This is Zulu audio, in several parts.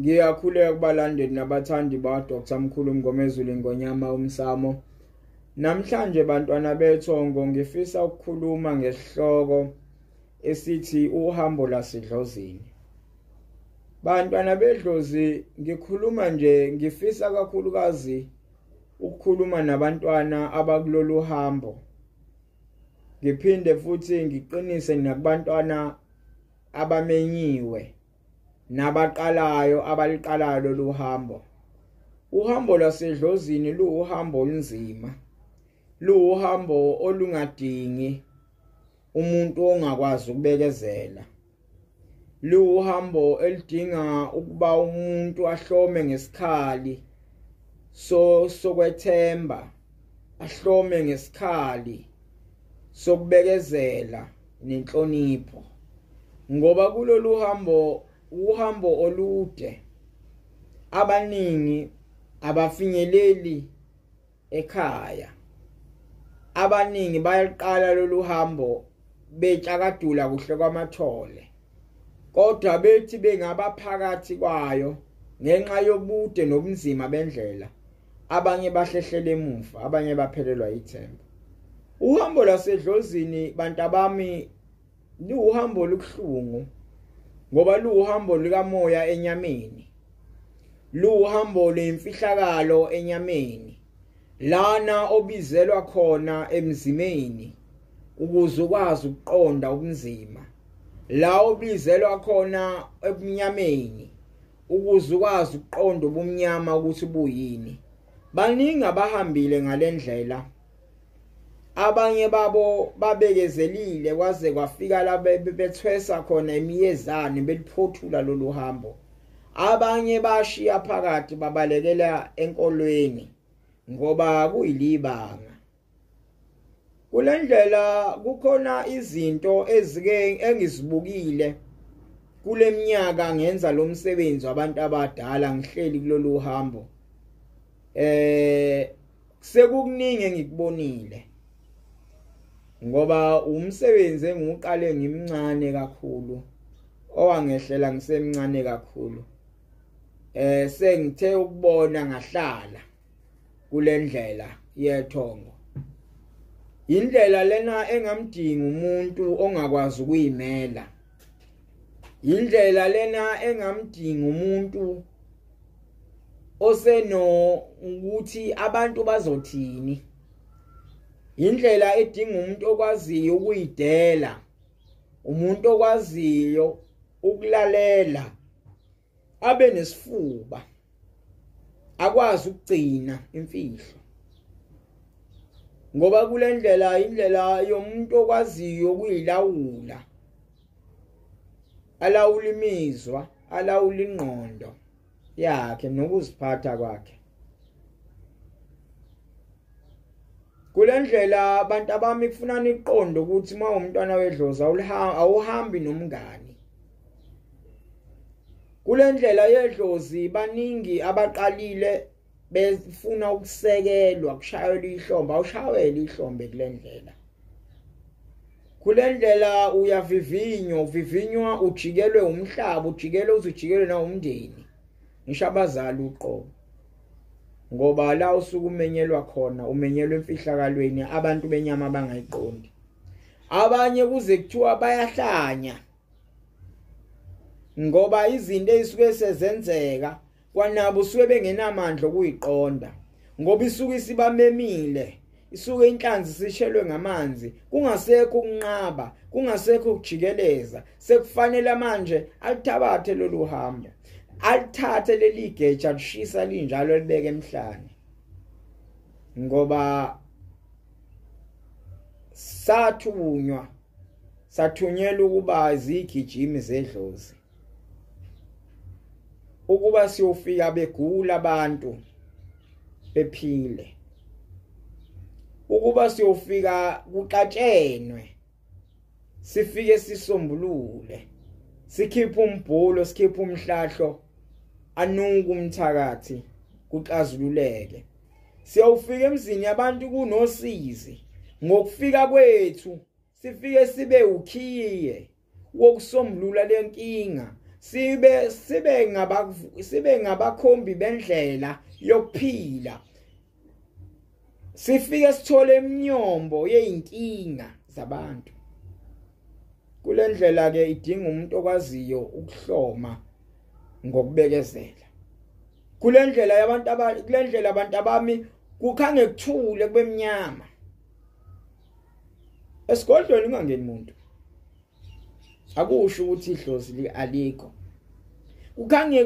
Ngiyakhuleka kubalandeli nabathandi ba Dr Mkhulu Mngomezulu Ngonyama umsamo. Namhlanje bantwana bethongo ngifisa ukukhuluma ngesihloko esithi uhambo lasidlozini. Bantwana bedlozi ngikhuluma nje ngifisa kakhulukazi ukukhuluma nabantwana abakulolu hambo. Ngiphinde futhi ngiqinise nakubantwana abamenyiwe nabaqalayo abaliqalayo lolu hambo. Uhambo lwasedlozini luwuhambo olunzima. Luwuhambo olungadingi umuntu ongakwazi ukubekezela. liwuhambo elidinga ukuba umuntu ahlome ngesikhali so sokwethemba ahlome ngesikhali sokubekezela nenhlonipho ngoba kulolu hambo uhambo olude abaningi abafinyeleli ekhaya abaningi bayaqala lolu hambo betshakadula kuhle kwamathole kodwa bethi bengabaphakathi kwayo ngenxa yobude nobunzima bendlela abanye bahlehlela emuva abanye baphelelwa ithemba uhambo lasedlozini bantabami liwuhambo olubuhlungu ngoba luwuhambo likamoya enyameni luwuhambo lwemfihlakalo enyameni lana obizelwa khona emzimeni ukuze ukwazi ukuqonda ubunzima la obizelwa khona ebunyameni ukuze ukwazi ukuqonda ubumnyama ukuthi buyini baningi abahambile ngalendlela abanye babo babekezelile kwaze kwafika la bethwesa khona imiyezane beliphothula lolu hambo abanye bashiya phakathi babalekela enkolweni ngoba kuyilibanga kulendlela kukhona izinto ezike engizibukile kuleminyaka ngenza lo msebenzi wabantu abadala ngihleli kulolu hambo eh Sekukuningi engikubonile. Ngoba umsebenzi engiqale ngimncane kakhulu owangehlela ngisemncane kakhulu. Eh sengithe ukubona ngahlala kulendlela yethongo. Indlela lena engamdinga umuntu ongakwazi ukuyimela. indlela lena engamdinga umuntu oseno ukuthi abantu bazothini indlela edinga umuntu okwaziyo ukuyidela umuntu okwaziyo ukulalela abe nesifuba akwazi ukugcina imfihlo ngoba kule ndlela indlela yomuntu okwaziyo ukuyilawula alawula imizwa alawula ingqondo yakhe nokuziphatha kwakhe kule ndlela abantu abami kufuna niqonde ukuthi uma umntwana wedlozi awuhambi nomngani kulendlela yedlozi baningi abaqalile befuna ukusekelwa kushayelwa ihlombe awushayele ihlombe kulendlela kulendlela uyavivinywa uvivinywa ujikelwe umhlaba ujikelwe uzujikelwe na umndeni ngisho abazali uqobo ngoba la usuku umenyelwa khona umenyelwa emfihlakalweni abantu benyama abangayiqondi abanye kuze kuthiwa bayahlanya ngoba izinto ezisuke sezenzeka kwanabo usuke bengenamandla okuyiqonda ngoba isuke isibamemile isuke inhlanzi sishelwe ngamanzi kungasekho ukunqaba kungasekho ukujikeleza sekufanele manje alithabathe lolu hambo alithathe leli geja lishisa linjalo libeke emhlane ngoba sathunywa sathunyelwa ukuba zigijimi zedlozi ukuba siyofika begula abantu bephile ukuba siyofika kuqatshenwe sifike sisombulule sikhipha umbhulo sikhipha umhlahlo anuka umthakathi kuxazululeke siyawufika emzini yabantu kunosizi ngokufika kwethu sifike sibe ukhiye wokusombulula lenkinga sibe sibe ngaba sibe ngabakhombi bendlela yokuphila sifike sithole imnyombo yeinkinga zabantu kule ndlela ke idinga umuntu okwaziyo ukuhloma ngokubekezela kule ndlela yabantu aba kule ndlela abantu abami kukhange kuthule kube mnyama esigodlweni ungangeni muntu akusho ukuthi idlozi li alikho kukhange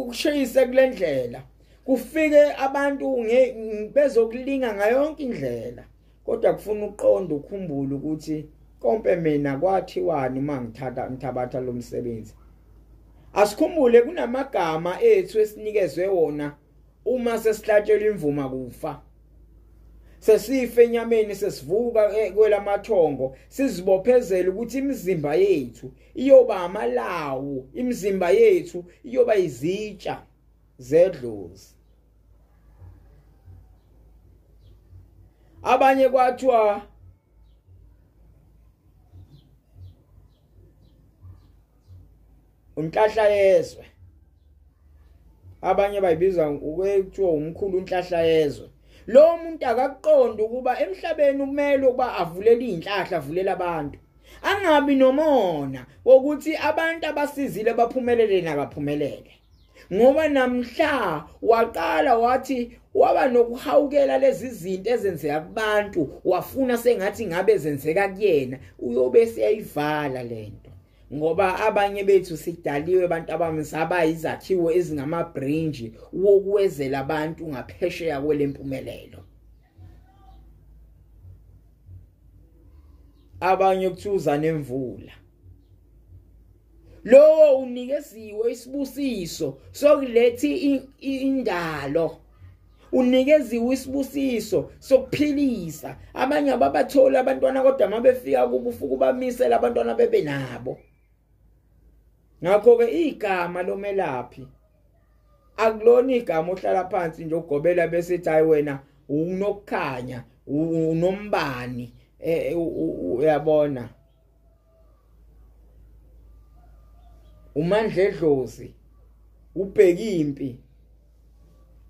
kushayise kule ndlela kufike abantu bezokulinga ngayonke indlela kodwa kufuna uqonda ukhumbule ukuthi konke mina kwathiwani uma ngithatha ngithabatha lo msebenzi asikhumbule kunamagama ethu esinikezwe wona uma sesihlatshelwa imvuma kufa sesife enyameni sesivuka e, kwelamathongo sizibophezela ukuthi imizimba yethu iyoba amalawu imizimba yethu iyoba izitsha zedlozi abanye kwathiwa unhlahla yezwe abanye bayibiza ukuthiwa umkhulu unhlahla yezwe lo muntu akakuqonda ukuba emhlabeni kumele ukuba avulele izinhlahla avulela abantu angabi nomona wokuthi abantu abasizile baphumelele nakaphumelele ngoba namhla waqala wathi waba nokuhawukela lezi zinto ezenzeka kubantu wafuna sengathi ngabe zenzeka kuyena uyobe seyayivala lento ngoba abanye bethu sidaliwe abantu abamsaba izakhiwo ezingamabrinji wokuwezela abantu ngaphesheya kwelempumelelo abanye kuthiwa uza nemvula lowo unikeziwe isibusiso sokulethi indalo unikeziwe isibusiso sokuphilisa abanye ababatholi abantwana kodwa mabefika kubufuku bamisela abantwana bebe nabo ngakho ke igama lomelaphi akulona igama ohlala phansi nje ugobela bese ethi hayi wena unokukhanya unombani eh, uyabona uMandledlozi ubheki impi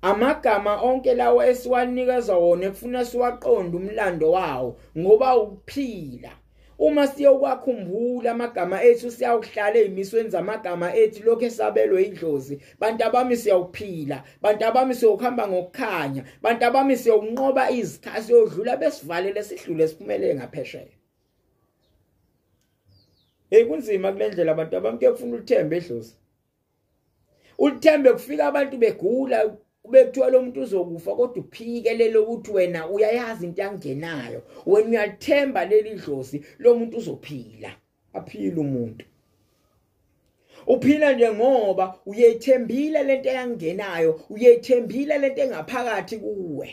amagama onke lawo esiwanikeza wona ekufuna siwaqonde umlando wawo ngoba ukuphila uma siyokwakhumbula amagama ethu siyawuhlala ezimisweni zamagama ethu lokho esabelwe idlozi bantu abami siyawuphila bantu abami siyokuhamba ngokukhanya bantu abami siyokunqoba izikhathi siyodlula besivalele sidlule siphumelele ngaphesheya Hey kunzima kulendlela abantu abamke kufuna ulithembe edlozi. Ulithembe kufika abantu begula ubekuthiwa lo muntu uzokufa kodwa uphike lelo ukuthi wena uyayazi into yangenayo. Wena uyalithemba leli dlozi lo muntu uzophila. Aphila umuntu. uphila nje ngoba uyethembile lento eyangenayo uyethembile lento engaphakathi kuwe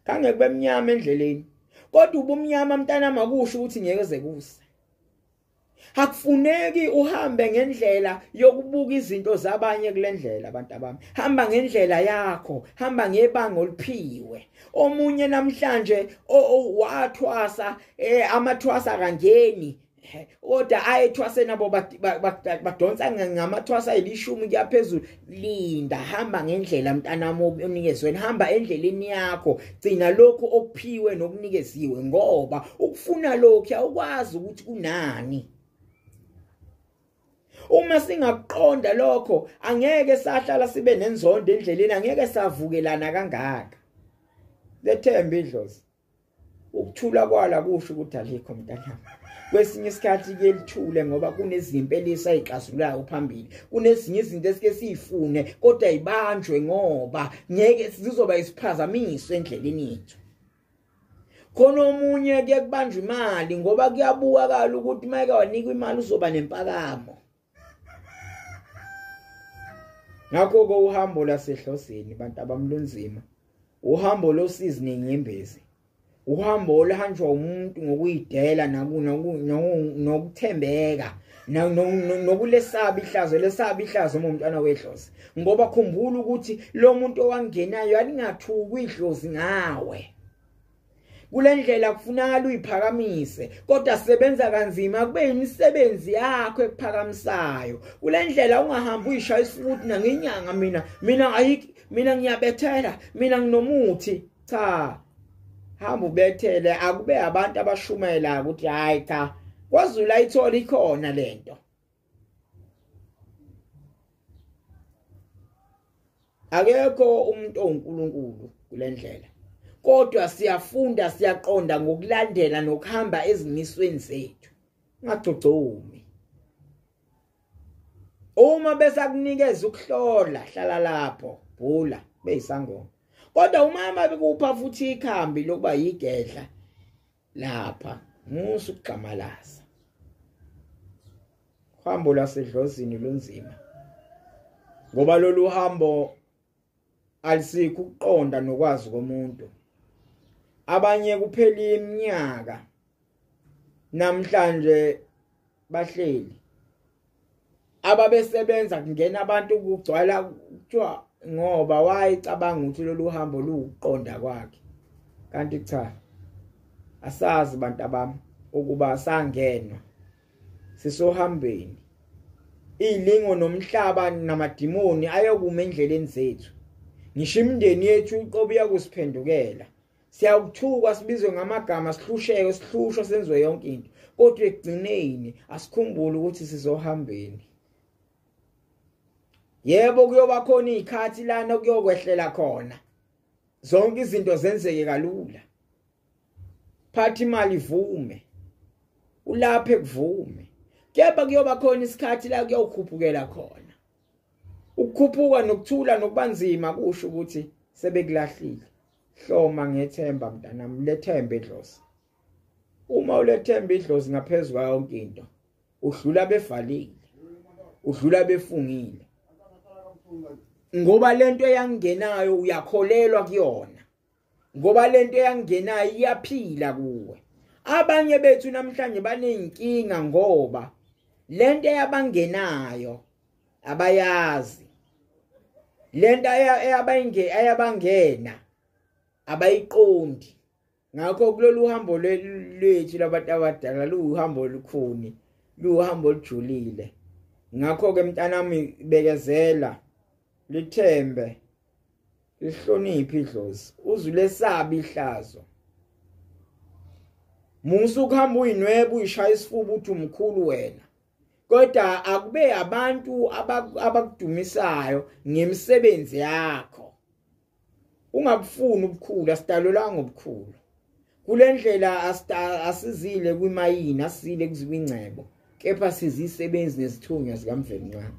kange kube mnyama endleleni kodwa ubumnyama mntana makusho ukuthi ngeke zekuse akufuneki uhambe ngendlela yokubuka izinto zabanye kulendlela abantu abami hamba ngendlela yakho hamba ngebanga oliphiwe omunye namhlanje wathwasa eh, amathwasa kangeni kodwa ayethwaseni abo badonsa ngamathwasa elishumi kuyaphezulu linda hamba ngendlela mntanami onikezwe hamba endleleni yakho gcina lokho okuphiwe nokunikeziwe ngoba ukufuna lokhu awukwazi ukuthi kunani uma singakuqonda lokho angeke sahlala sibe nenzondo endleleni angeke savukelana kangaka lethemba idlozi ukuthula kwala kusho ukuthi alikho mntanami kwesinye isikhathi ke lithule ngoba kunezimpi elisayixazulayo phambili kunezinye izinto esike siyifune kodwa ibanjwe ngoba ngeke sizoba isiphazamiso endleleni yethu khona omunye ke kubanjwa imali ngoba kuyabukakala ukuthi mayeke wanikwa imali uzoba nempakamo ngakho ke uhambo lasehlosini bantu abamlunzima uhambo losizi nenyembezi uhambo oluhanjwa umuntu ngokuyidela nokuthembeka nokulesaba ihlazo lesaba ihlazo uma umntwana wedlozi ngoba khumbula ukuthi lo muntu owangenayo alingathuki idlozi ngawe kule ndlela kufunakala uyiphakamise kodwa sebenza kanzima kube yimisebenzi yakho ekuphakamisayo kule ndlela ungahambi uyishaya isibuti nangenyanga mina mina ayiki mina ngiyabethela mina nginomuthi cha hamba ubethele akube abantu abashumayelayo ukuthi hayi cha kwazulu ayithola ikhona lento akekho umuntu onkulunkulu kulendlela kodwa siyafunda siyaqonda ngokulandela nokuhamba ezimisweni zethu ungagcogcomi uma besakunikeza ukuhlola hlala lapho bhula beyisangoma kodwa umama bekupha futhi ikhambi lokuba yigedla lapha musa ukugxamalaza uhambo lwasedlozini lunzima ngoba lolu hambo alisikho ukuqonda nokwazi komuntu abanye kuphela iminyaka namhlanje bahleli ababesebenza kungena abantu kugcwala kuthiwa ngoba wayecabanga ukuthi lolu hambo luwuqonda kwakhe kanti cha asazi bantu abami ukuba sangenwa sisohambeni ilingo nomhlaba namadimoni ayokuma endleleni zethu ngisho imindeni yethu uqobo iyakusiphendukela siyawuthukwa sibizwe ngamagama sihlusheke sihlushwa senziwe yonke into kodwa ekugcineni asikhumbule ukuthi sizohambeni yebo kuyoba khona izikhathi lana kuyokwehlela khona zonke izinto zenzeke kalula phathi imali ivume ulaphe kuvume kepha kuyoba khona isikhathi la kuyokhuphukela khona ukukhuphuka nokuthula nokubanzima kusho ukuthi sebekulahlile hloma ngethemba mntanami lethembe idlozi uma ulethemba idlozi ngaphezulu kwayo yonke into udlula bevalile udlula befungile ngoba lento eyangenayo uyakholelwa kuyona ngoba lento eyangenayo iyaphila kuwe abanye bethu namhlanje banenkinga ngoba lento yabangenayo abayazi lento eyabayinge ayabangena abayiqondi ngakho kulolu hambo lwethu labantu abadala luhambo olukhuni luhambo olujulile ngakho ke mntanami bekezela lithembe lihloniphe idlozi uzulesabi ihlazo musa ukuhamba uyinwebe uyishaya isifuba uthi umkhulu wena kodwa akube abantu abakudumisayo ngemisebenzi yakho ungabufuni ubukhulu asidalelwanga ubukhulu kule ndlela asizile kwimayini asizile kuzikwingcebo kepha sizisebenzi nesithunywa sikamvelinqaba